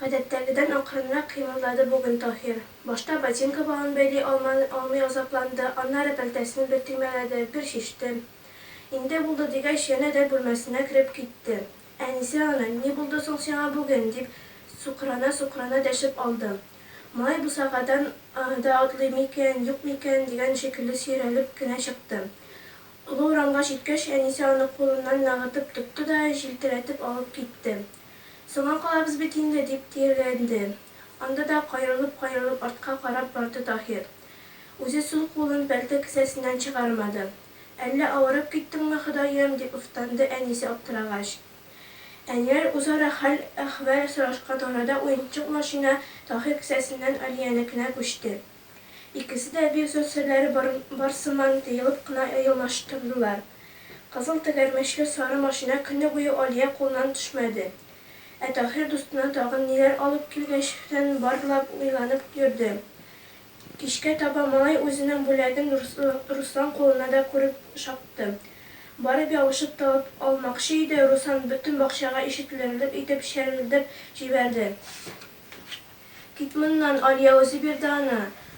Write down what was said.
Гадәттәгедән акрынрак кыймылдады бүген Таһир. Башта ботинка балын бәйли алман алмый азапланды, аннары пәлтәсен бер төймәләде, бер чиште. Инде булды дигәч, янә дә бүлмәсенә кереп китте. Әнисе аны, Ни булды соң сиңа бүген? дип сукранасукрана дәшеп алды. Малай бусагадан да атлый микән, юк микән дигән шикелле сөйрәлеп кенә чыкты. Олы урамга җиткәч, әнисе аны кулыннан нагытып тотты да җилтерәтеп алып китте. Соңа калабыз бит инде, дип тиргәләнде. Анда да каерылып-каерылып артка карап барды Таһир. Үзе сул кулын пәлте кесәсеннән чыгармады. Әллә авырып киттеңме, Ходаем? дип уфтанды әнисе аптырагач. Әниләр үзара хәл-әхвәл сорашкан арада уенчык машина Таһир кесәсеннән Алиянекенә күчте. Икесе дә бик зур серләре бар сыман тыелып кына елмаштырдылар. Кызыл тәгәрмәчле сары машина көне буе Алия кулыннан төшмәде. Ә Таһир дустына тагын ниләр алып килгәчтен барлап уйланып йөрде. Кичкә таба малай үзенең бүләген Руслан кулына да күреп чапты. Барып ябышып табып алмакчы иде, Руслан бөтен бакчага ишетелерлек итеп чәрелдәп җибәрде. Кит моннан, Алия үзе бирде аны.